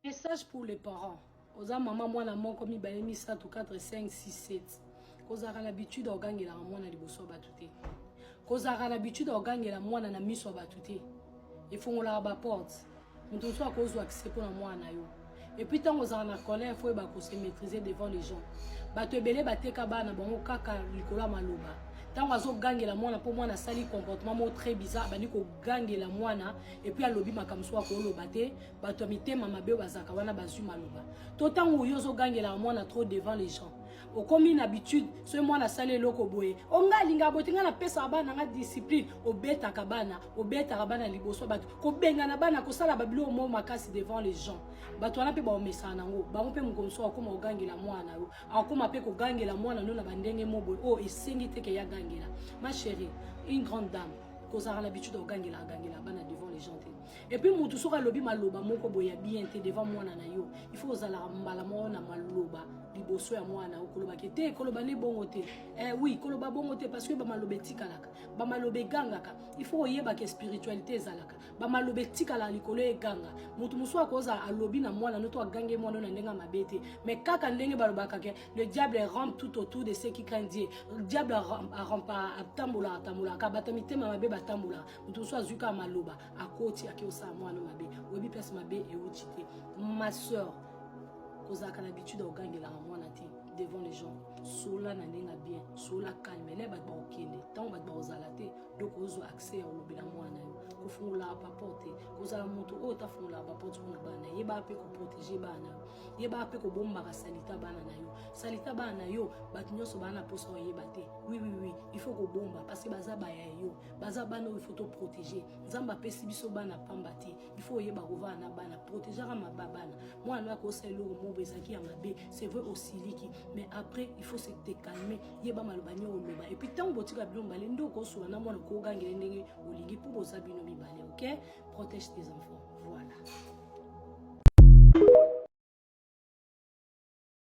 Message pour les parents. Oza maman mwana moko mibale misato 4 5 6 7. Kozalaka na habitude ogangelaka mwana liboso ya bato te. Kozalaka na habitude ogangela mwana na miso ya bato te. Efongolaka ba porte. Moto mosusu akozwa accès mpo na mwana na yo. Et puis tant ozala na colère faut ba ko se maîtriser devant les gens. Bato ebele bateka bana bango kaka likolo ya maloba. Tango azo gangela mwana po mwana sali comportement mo très bizarre bani ko gangela mwana et puis alobi makambo so akoloba te bato ya mitema mabe oyo bazalaka wana bazwi maloba to ntango oyo ozogangelaka mwana trop devant les gens okomi na habitude soki mwana asali eloko boye o oh, ngai alingaka boye te ngai napesaka bana ngai discipline obetaka bana obetaka bana liboso bato kobengana bana kosala babiloko moko makasi devant les gens bato wana mpe baomesana nango bango mpe mokolo mosusu akokoma kogangela mwana yo akokoma mpe kogangela mwana no na bandenge mo boye oyo oh, esengi te ke yagangela ma chérie une grande dame kozalaka na habitude ya kogangela agangela bana devant les gens te et puis mutu soki alobi maloba moko boye ya bien te devant mwana na yo il faut ozalaka mbala moko na maloba liboso ya mwana na yo kolobaki te koloba nde bongo te eh, oui koloba bongo te parce que bamaloba etikalaka bamaloba egangaka il faut oyebaka espiritualité ezalaka bamaloba etikalaka likolo eganga motu mosusu akozala alobi na mwana no to agange mwana na ndenge mabe te mais kaka ndenge balobaka ke le diable rampe tout autour de ce qui craint dieu diable atambolaka tambolaka bata mitema mabe batambolaka moto mosusu azwi kaka maloba akoti ake osala mwana mabe oyebi place mabe euti te ma soeur kozalaka na habitude ya kogangelaka mwana te devant les gens sola na ndenge ya bien sola calme na bato bakokende ntango bato bakozala te doko ozwa accès ya kolobela mwana yo kofungolaka baporte kozala moto oyo tafungolaka baporte mpona bana yebaka mpe koprotege bana na yo yebaka mpe kobombaka salita bana na yo salita bana na yo bato nyonso bana na mposa oyeba te wiwiwi il faut kobomba parce que baza baya yo baza bana oyo faut toprotege nzambe apesi biso bana pamba te bifo oyeba kovana na bana protegaka maba bana mwana oyo akosala eloko moko ezalaki ya mabe c'est vrai osiliki mais après il faut se te calme yeba maloba nio oloba epuis ntango botika bino mibale nde okosola na mwana okogangele ndenge olingi mpo boza bino mibale ok protège tes enfants voilà